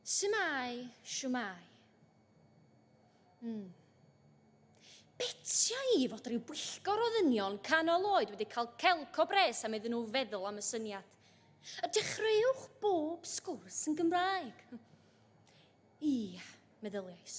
Shwmae, shwmae. Mm. Betia i fod rhyw bwyllgor o ddynion canol oed wedi cael celc o bres am iddyn nhw feddwl am y syniad. A dechreuwch bob sgwrs yn Gymraeg. Ia, meddyliais.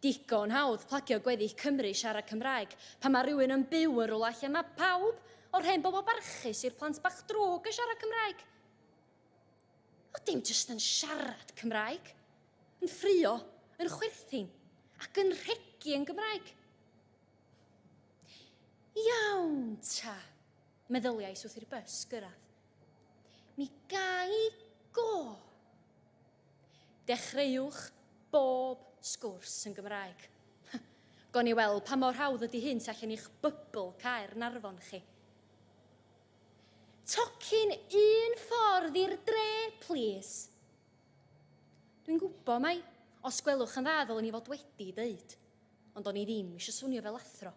Digon hawdd plagio gweddill Cymru i siarad Cymraeg pan mae rhywun yn byw yn rywle lle mae pawb, o'r hen bobl barchus i'r plant bach drwg yn siarad Cymraeg. Ond dim jyst yn siarad Cymraeg, yn ffrio, yn chwerthin ac yn rhegi yn Gymraeg. Iawn ta. Meddyliais wrth i'r bus gyrraedd. Mi gai go! Dechreuwch bob sgwrs yn Gymraeg. Gawn ni weld pa mor hawdd ydy hyn tu allan i'ch bybl Caernarfon chi. Tocyn un ffordd i'r dre, plîs. Dwi'n gwybod mai, os gwelwch yn dda ddylwn i fod wedi dweud. Ond o'n i ddim eisiau swnio fel athro.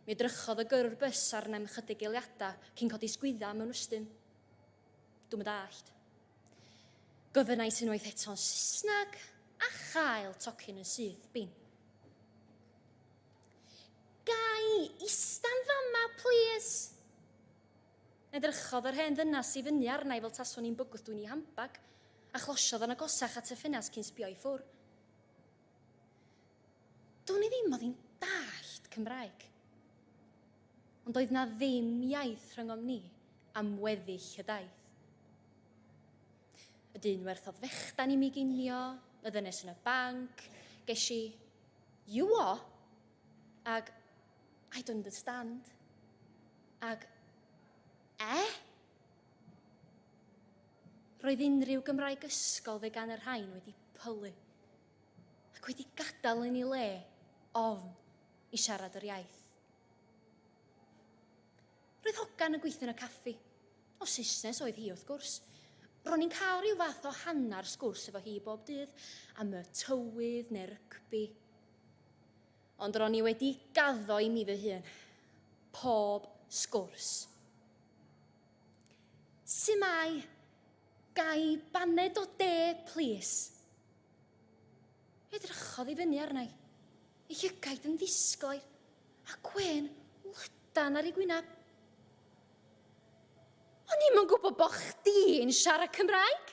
Mi edrychodd y gyrrwr bys arnaf i chydig eiliadau cyn codi sgwydda mewn ystym. Dwi'n dallt. Gofynnais unwaith eto'n Saesneg a chael tocyn yn syth bin. Gai istan fama, please? Edrychodd yr hen ddynas i fyny arnaf fel taswn i'n bygwth dwi'n ei hambag, a chlosiodd yn agosach at y ffenast cyn sbio i ffwr. Do'n i ddim oedd hi'n dallt Cymraeg. Ond doedd na ddim iaith rhyngom ni am weddill y daith. Y dyn werthodd fechdan i mi ginio, y ddynes yn y banc, ges i You what? Ag I don't understand. Ag Eh? Roedd unrhyw Gymraeg ysgol fe gan y rhain wedi pylu ac wedi gadael yn ei le ofn i siarad yr iaith. Roedd hogan yn gweithio yn y caffi. O Saesnes oedd hi, wrth gwrs. Ro'n i'n cael rhyw fath o hanner sgwrs efo hi bob dydd am y tywydd neu'r rygbi. Ond ro'n i wedi gaddo i mi fy hun. Pob sgwrs. Su mae? Gai baned o de, plis? Edrychodd i fyny arna i, ei llygaid yn ddisglair, a gwên lydan ar ei gwyneb. O'n i'm yn gwybod bo chdi'n siarad Cymraeg!